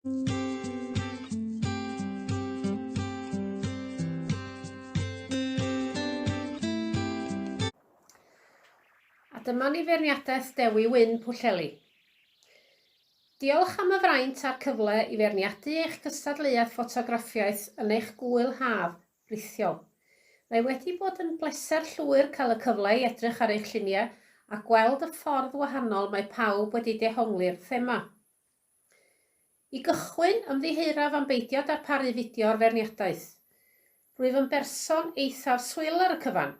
A dyma ni feirniadaeth Dewi Wyn Pwllheli. Diolch am y fraint a'r cyfle i feirniadu eich cystadleuaeth ffotograffiaeth yn eich gŵyl haf rithiol. Mae wedi bod yn bleser llwyr cael y cyfle i edrych ar eich lluniau a gweld y ffordd wahanol mae pawb wedi dehongli'r thema. I gychwyn, ymddiheuraf am beidio darparu fideo o'r feirniadaeth. Rwyf yn berson eithaf swil ar y cyfan,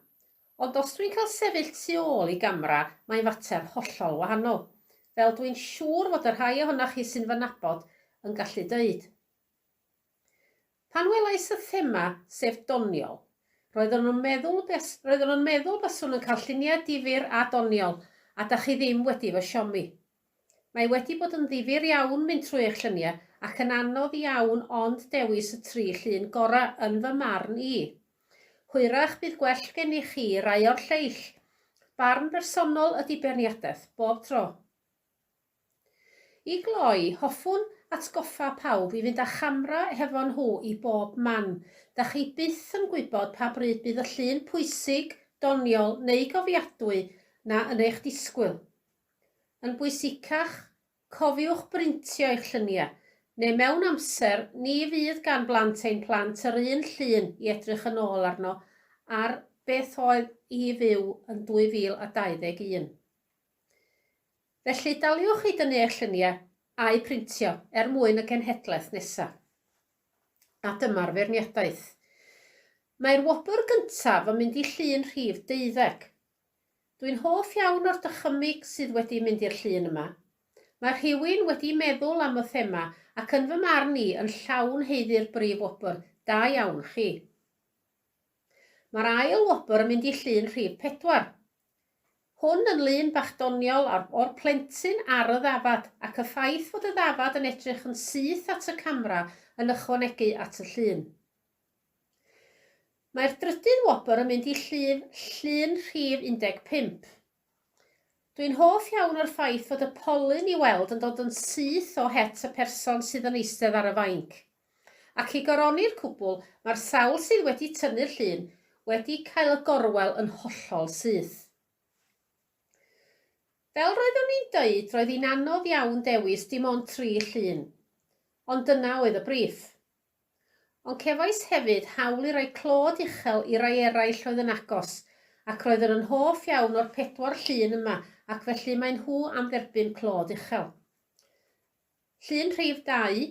ond os dwi'n cael sefyll tu ôl i gamera mae'n fater hollol wahanol, fel dwi'n siŵr fod y rhai ohonoch chi sy'n fy nabod yn gallu dweud. Pan welais y thema, sef doniol, roeddwn yn meddwl roeddwn yn meddwl baswn yn cael lluniau difyr a doniol, a da chi ddim wedi fy siomi. Mae wedi bod yn ddifyr iawn mynd trwy eich lluniau ac yn anodd iawn ond dewis y tri llun gora yn fy marn i. Hwyrach bydd gwell gennych chi rai o'r lleill. Barn bersonol ydy beirniadaeth, bob tro. I gloi, hoffwn atgoffa pawb i fynd â chamera hefo nhw i bob man. Dach chi byth yn gwybod pa bryd bydd y llun pwysig, doniol neu gofiadwy 'na yn eich disgwyl. Yn bwysicach, cofiwch brintio eich lluniau, neu mewn amser, ni fydd gan blant ein plant yr un llun i edrych yn ôl arno ar beth oedd i fyw yn 2021. Felly, daliwch i dynnu eich lluniau, a'u printio, er mwyn y genhedlaeth nesaf. A dyma'r feirniadaeth. Mae'r wobr gyntaf yn mynd i llun rhif deuddeg. Dwi'n hoff iawn o'r dychymyg sydd wedi mynd i'r llun yma. Mae rhywun wedi meddwl am y thema ac yn fy marn i yn llawn haeddu'r brif wobr, da iawn chi. Mae'r ail wobr yn mynd i llun rhif pedwar. Hwn yn lun bach doniol o'r o'r plentyn ar y ddafad, ac y ffaith fod y ddafad yn edrych yn syth at y camera yn ychwanegu at y llun. Mae'r drydydd wobr yn mynd i llif llun rhif 15. Dwi'n hoff iawn o'r ffaith fod y polyn i weld yn dod yn syth o het y person sydd yn eistedd ar y fainc. Ac i goroni'r cwbl, mae'r sawl sydd wedi tynnu'r llun wedi cael y gorwel yn hollol syth. Fel roeddwn i'n dweud, roedd hi'n anodd iawn dewis dim ond tri llun. Ond dyna oedd y briff. Ond cefais hefyd hawl i roi clod uchel i rai eraill oedd yn agos, ac roeddwn yn hoff iawn o'r pedwar llun yma ac felly maen nhw am dderbyn clod uchel. Llun rhif 2,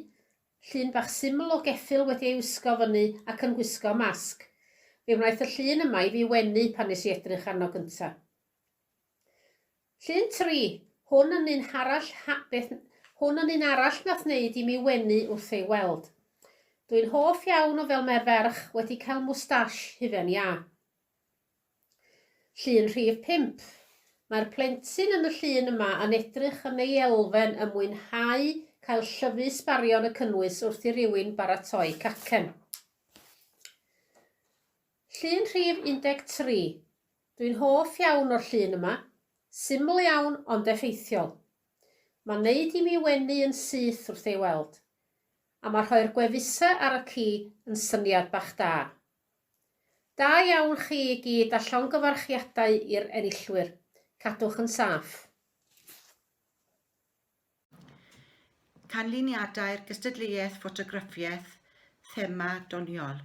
Llun bach syml o geffyl wedi ei wisgo fyny ac yn gwisgo masg. Fe wnaeth y llun yma i fi wenu pan nes i edrych arno gynta. Llun 3, Hwn yn un arall beth hwn yn un arall nath wneud i mi wenu wrth ei weld. Dwi'n hoff iawn o fel mae'r ferch wedi cael mwstash hufen iâ. Llun rhif pump. Mae'r plentyn yn y llun yma yn edrych yn ei elfen yn mwynhau cael llyfu sbarion y cynnwys wrth i rywun baratoi cacen. Llun rhif 13. Dwi'n hoff iawn o'r llun yma. Syml iawn ond effeithiol. Mae'n neud i mi wenu yn syth wrth ei weld. A mae rhoi'r gwefusau ar y ci yn syniad bach da. Da iawn chi i gyd a llongyfarchiadau i'r enillwyr. Cadwch yn saff. Canlyniadau'r gystadleuaeth ffotograffiaeth thema doniol.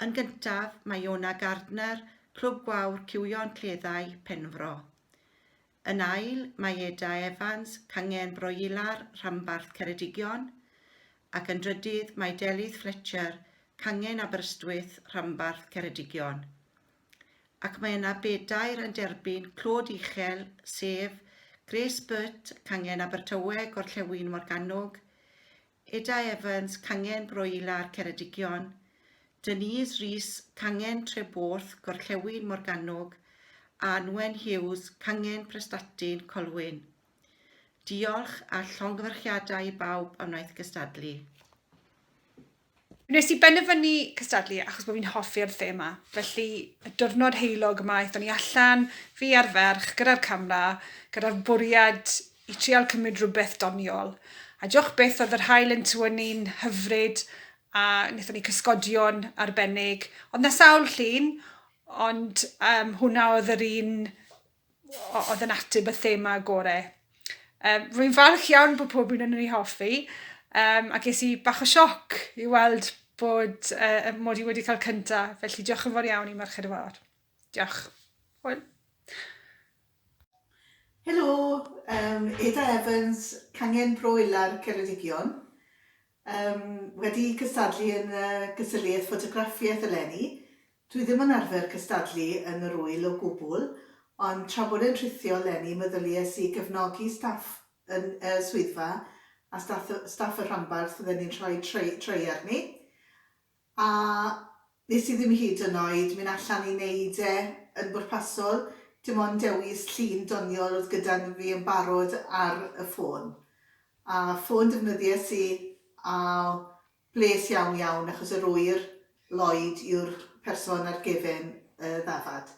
Yn gyntaf, mae Iona Gardner, Clwb Gwawr Cywion Cleddau, Penfro. Yn ail, mae Eda Evans, cangen broilar rhanbarth Ceredigion, ac yn drydydd mae Delyth Fletcher, cangen Aberystwyth rhanbarth Ceredigion. Ac mae yna bedair yn derbyn clod uchel, sef Grace Burt, cangen Abertawe, Gorllewin Morgannwg, Eda Evans, Cangen Broilar, Ceredigion, Denise Rees, Cangen Treborth, Gorllewin Morgannwg, a Nwen Hughes, Cangen Prestatyn, Colwyn. Diolch a llongyfarchiadau i bawb a wnaeth gystadlu. Wnes i benderfynu cystadlu achos bod fi'n hoffi'r thema, felly y diwrnod heulog yma aethon ni allan, fi a'r ferch, gyda'r camera, gyda'r bwriad i trial cymryd rhywbeth doniol, a diolch byth oedd yr haul yn tywynnu'n hyfryd a wnaethon ni cysgodion arbennig, oedd 'na sawl llun ond yym hwnna oedd yr un o- oedd yn ateb y thema gore. Yym rwy'n falch iawn bod pob un ohonon ni hoffi yym a ges i bach o sioc i weld bod yy yy mod i wedi cael cynta felly diolch yn fawr iawn i Merched y Wawr. Diolch. Hwyl. Helo, yym Eda Evans, Cangen Bro Ilar, Ceredigion. Yym wedi cystadlu yn y gystadleuaeth ffotograffiaeth eleni. Dwi ddim yn arfer cystadlu yn yr ŵyl o gwbl, ond tra bod e'n rhithio eleni meddylies i gefnogi staff yn y swyddfa a staff y staff y rhanbarth fydden ni'n rhoi tray tray arni. A nes i ddim hyd yn oed mynd allan i neud e yn bwrpasol, dim ond dewis llun doniol o'dd gyda fi yn barod ar y ffôn. A ffôn defnyddies i a bles iawn iawn achos yr ŵyr, Lloyd yw'r person ar gefn y ddafad.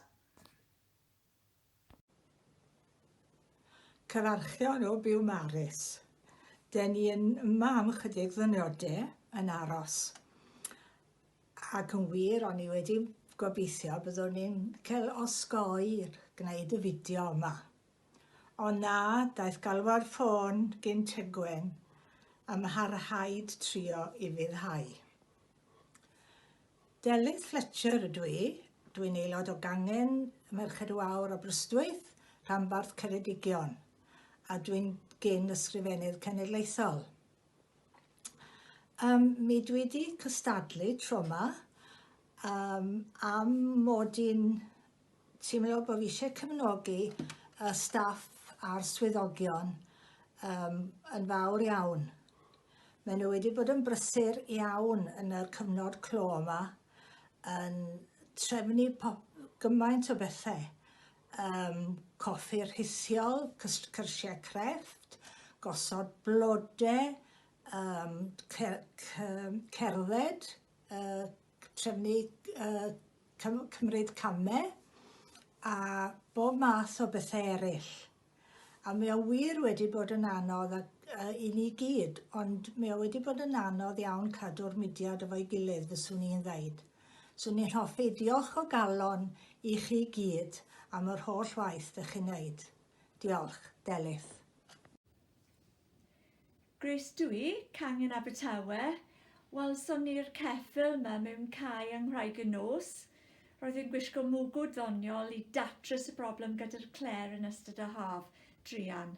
Cynarchion o Biwmaris. Den ni yn yma am ychydig ddynode yn aros. Ac yn wir, o'n i wedi gobeithio byddwn ni'n cael osgoi gwneud y fideo yma. Ond na, daeth galw'r ffôn gyn Tegwen a mae rhaid trio i fyddhau. Delyth Fletcher ydw i. Dw i'n aelod o Gangen y Merched Wawr Aberystwyth, rhanbarth Ceredigion, a dw i'n gyn Ysgrifennydd Cenedlaethol. Um, mi dwi wedi cystadlu tro yma um, am mod i'n teimlo bod fi eisiau cefnogi y staff a'r swyddogion um, yn fawr iawn. Maen nhw wedi bod yn brysur iawn yn y cyfnod clo yma, yn trefnu pop, gymaint o bethau. Um, coffi rhisiol, cyrsiau crefft, gosod blodau, um, cerdded, uh, trefnu yy cymryd came a bob math o bethe eryll a mae o wir wedi bod yn anodd ac yy i ni gyd ond mae o wedi bod yn anodd iawn cadw'r mudiad efo'i gilydd fyswn i'n ddeud. Swn i'n hoffi diolch o galon i chi gyd am yr holl waith dych chi'n neud. Diolch. Delyth. Grace Dwy, Cangen Abertawe, Welson ni'r ceffyl 'ma mewn cae yng Nghraig y Nos. Roedd e'n gwisgo mwgwd ddoniol i datrys y broblem gyda'r clêr yn ystod y haf druan.